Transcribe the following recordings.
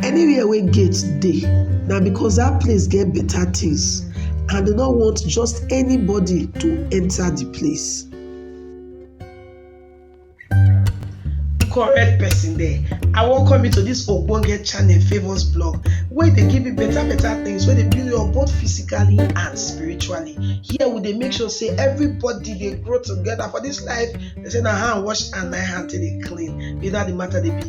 Anywhere wey gate dey na because dat place get better things and dem no want just anybody to enter the place. correct person there i welcome you to this ogbonge channel favours blog wey dey give you better better things wey dey build you up both physically and spiritually here we dey make sure say everybody dey grow together for this life they say na hand wash and na hand take dey clean be that the matter dey be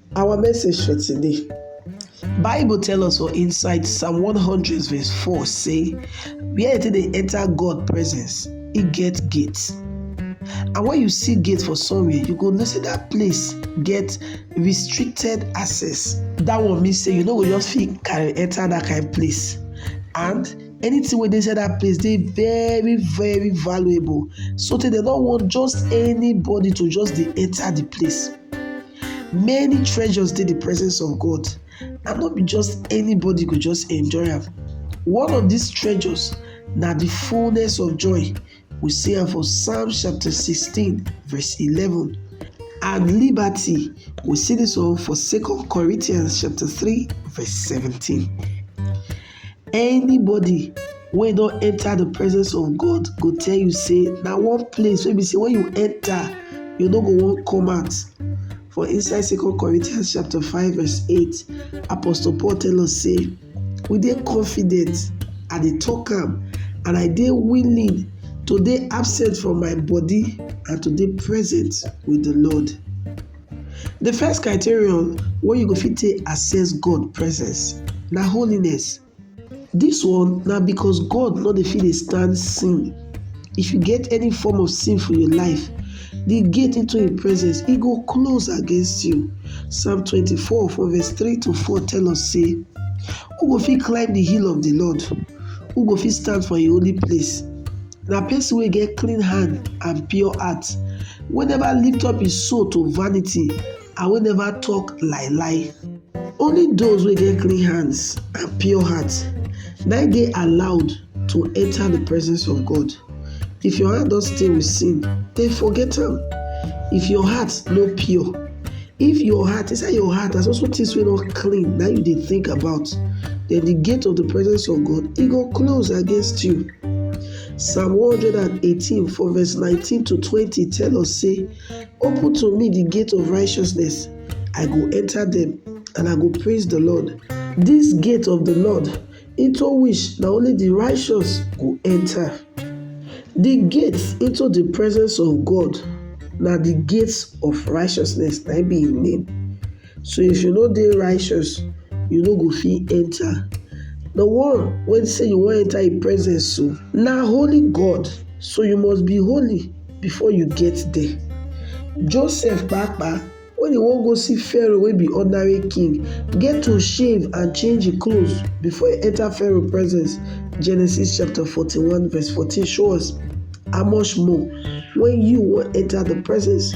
Our message for today. Bible tell us for inside Psalm 100 verse 4 say, where did they enter God presence, He get gates. And when you see gate for somewhere, you go know say that place get restricted access. That one mean say you no go just fit carry enter that kind of place. And anything wey dey inside that place dey very very valuable so tey dem no want just anybody to just dey enter the place Many treasures dey the presence of God and no be just anybody go just enjoy am. One of these treasures na the fullness of joy. We see am for Psalm chapter 16 verse 11 and liberty. We see this one for 2 Corinthians chapter 3 verse 17. Anybody wey don enter the presence of God go tell you say na one place wey be say when you enter, you no go wan come out. For inside Second Corinthians chapter 5 verse 8, Apostle Paul tell us say, we dey confident, I dey talk am, and I dey willing to dey absent from my body and to dey present with the Lord. Di first criterion wey you go fit take access God presence na holiness. Dis one na because God no dey fit dey stand sin, if you get any form of sin for your life, di gate into im presence e go close against you. Psalm twenty four from verse three to four tell us sey who go fit climb di hill of di Lord, who go fit stand for im holy place. Na person wey get clean hand and pure heart, wey never lift up im soul to vanity and wey never talk lie lie. Only those wey get clean hands and pure heart na im dey allowed to enter the presence of God. If your hand don stain with sin, then forget am. If your heart no pure, if your heart, inside your heart na so so things wey no clean na im you dey think about, then the gate of the presence of God e go close against you. Psalm 118 from verse 19 to 20 tell us say, Open to me the gate of righteousness, I go enter them, and I go praise the Lord. This gate of the Lord, into which na only the righteous go enter. The gates into the presence of God na the gates of righteousness na be im name. So if you no dey righteous, you no go fit enter. The one wey say you wan enter im presence so, na holy God, so you must be holy before you get there. Joseph papa, when he wan go see Pharaoh wey be ordinary king, get to shave and change him clothes before he enter Pharaoh presence. Genesis chapter 41 verse 14 show us how much more when you wan enter the presence